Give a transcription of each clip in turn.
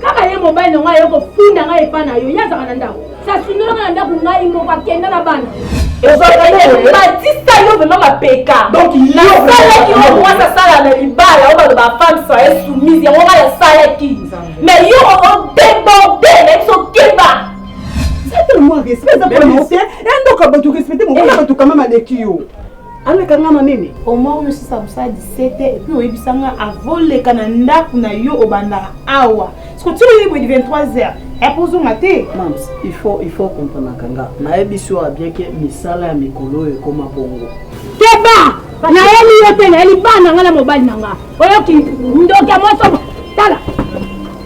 kaka ye mobali na ngai aye kofunda ngai epa na yo ye azaka na ndako sasundola ngai na ndako ngai moko akenda na bana batista yo vrema mapeka nasalaki oyo mwasi asala na libala oyo baloba femme soye soumise yango ngai asalaki mais yo odeborde na biso keba eza tellement respect eza mpo na yo te endoka bato respecte mobali bato kama maleki yo aleka nga na nini oma oyo sisa kosala 17 epuis oyebisa nga avoleka na ndako na yo obandaka awa siko ti oyebi 23 heures epo ozonga te mams il faut il faut comprenaka nga nayebisi oyo bien ke misala ya mikolo oyo ekoma bongo keba nayeli yo te nayeli bana nga na mobali na nga oyoki ndoki ya mosomo tala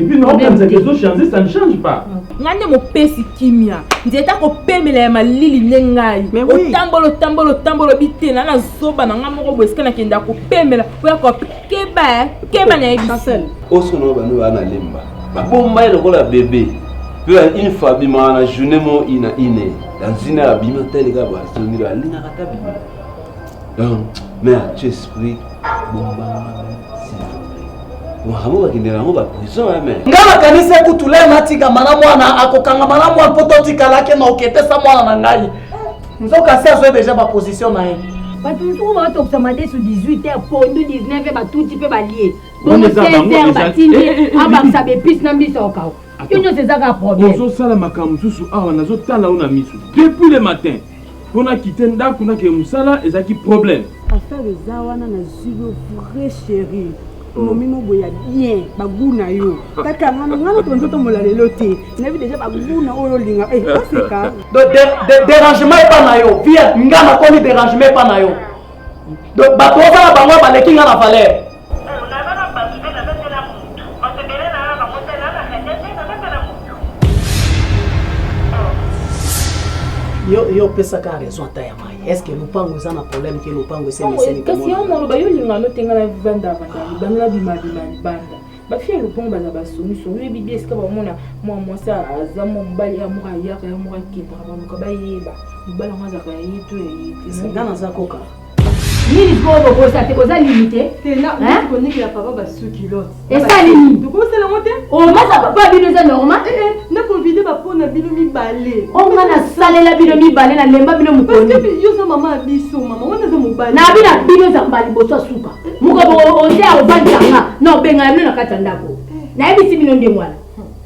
Et puis non, comme ça, les autres changer, ça ne change pas. nga nde mopesi kimia nzete akopemela ya malili nde ngai Mais oui. otambola otambola otambola obi te na na zoba na ngai moko boye esika nakende akopemela oyo akope keba eh, keba na yebisi Chancel, osolo bano baa na lemba babomba ye lokola bebe mpe ya une fois abimaka na journée mo ina ine na nzina ya bima teleka bazongela alingaka ta bima Donc, mais tu esprit bombanga makambo bakendela yango baprison ya me nga makanisi ekutu le natikama na mwana akokangama na mwana mpo totikalaki na oketesa mwana na ngai nzoka si azwi deja baposition na ye bato mosuku baotokisa madesu 18 heure pondu 19 batuti mpe balie bongo 16 heure batindi abakisa bepise na mbiso okao yo nyonso eza kaka problème ozosala makambo mosusu awa nazotala yo na miso depuis le matin mpo nakite ndako nakee mosala ezalaki problème affaire eza wana nazwi yo vrai chérie momi oh. moboye ya bien bagu na yo ah. kaka ngana ngana to nzoto mola lelo te nayebi deja bagu na oyo olinga eh, oseka dérangement epa na yo vie nga nakomi dérangement epa na yo bato ozala bango baleki nga na valeur Mpo naza na bato mpe naza te na moto, bato ebele naza na bango te, naza na Khadia mpe naza te na moto. Yo yo opesa ka raison ata ya mai. Est-ce que lupango eza na problème ke lupango ese Yango, meseni kasi yango komona? maloba yo olinga no te ngai na vanda vanda libanda na bima bima libanda bafi ya lopango baza basongisongi oyebi bie esika bamona mwa mwasi aza mwa mobali ya moko ayaka ya moko akendaka baluka bayeba mobali yango azalaka ya ye to ya ye te Nga naza koka. nini sikoyo bokosa te boza limite esali nini omasa papa bino eza normal eh, eh, nakovide bapona bino mibale onga oh, nasalela bino mibale nalemba bino mokoni na bino bino zamba liboso ya suka eh, mokobo oze aovandanga na obengana bino na kati ya ndako nayebisi bino ndenge wana